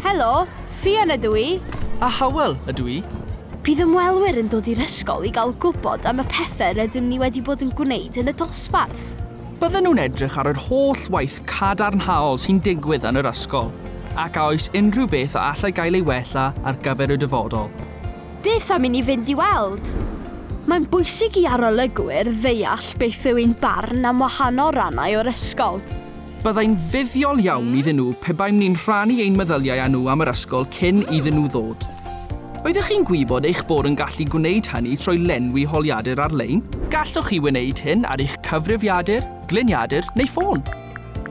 Helo, Fion ydw i. A Howell ydw i. Bydd ymwelwyr yn dod i'r ysgol i gael gwybod am y pethau rydym ni wedi bod yn gwneud yn y dosbarth. Bydden nhw'n edrych ar yr holl waith cadarnhaol sy'n digwydd yn yr ysgol, ac a oes unrhyw beth a allai gael ei wella ar gyfer y dyfodol. Beth am i ni fynd i weld? Mae'n bwysig i arolygwyr ddeall beth yw ein barn am wahanol rannau o'r ysgol. Byddai'n fuddiol iawn iddyn nhw pe baem ni'n rhannu ein meddyliau â nhw am yr ysgol cyn iddyn nhw ddod. Oeddech chi'n gwybod eich bod yn gallu gwneud hynny trwy lenwi holiadur ar-lein? Gallwch chi wneud hyn ar eich cyfrifiadur, gliniadur neu ffôn.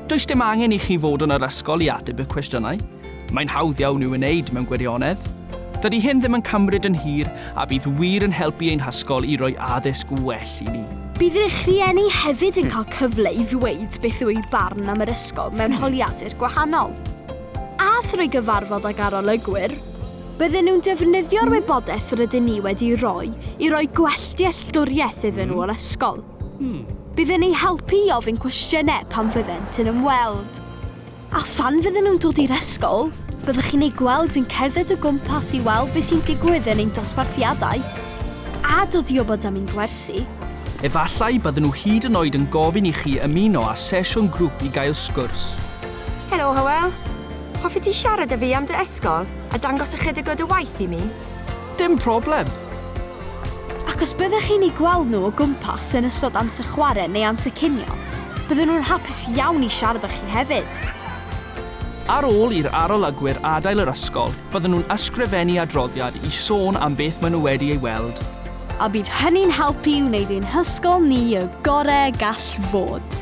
Does dim angen i chi fod yn yr ysgol i ateb y cwestiynau, Mae'n hawdd iawn i'w wneud mewn gwirionedd. Dydy hyn ddim yn cymryd yn hir a bydd wir yn helpu ein hysgol i roi addysg well i ni. Bydd eich rhieni hefyd yn cael cyfle i ddweud beth yw eu barn am yr ysgol mewn holiadur gwahanol. A thrwy gyfarfod ag arolygwyr, bydden nhw'n defnyddio'r wybodaeth rydyn ni wedi rhoi i roi gwell dealltwriaeth iddyn nhw o'r ysgol. Bydd yn eu helpu i ofyn cwestiynau pan fyddent yn ymweld. A phan fydden nhw'n dod i'r ysgol, byddwch chi'n eu gweld yn cerdded o gwmpas i weld beth sy'n digwydd yn ein dosbarthiadau, a dod i wybod am ein gwersi. Efallai bydden nhw hyd yn oed yn gofyn i chi ymuno â sesiwn grŵp i gael sgwrs. Helo, Hywel. Hoffet ti siarad â fi am dy ysgol a dangos ychydig o dy waith i mi? Dim problem! Ac os byddech chi'n eu gweld nhw o gwmpas yn ystod amser chwarae neu amser cinio, bydden nhw'n hapus iawn i siarad â chi hefyd! Ar ôl i'r arolygwyr adael yr ysgol, bydden nhw'n ysgrifennu adroddiad i sôn am beth maen nhw wedi ei weld. A bydd hynny'n helpu i wneud ein hysgol ni y gorau y gall fod.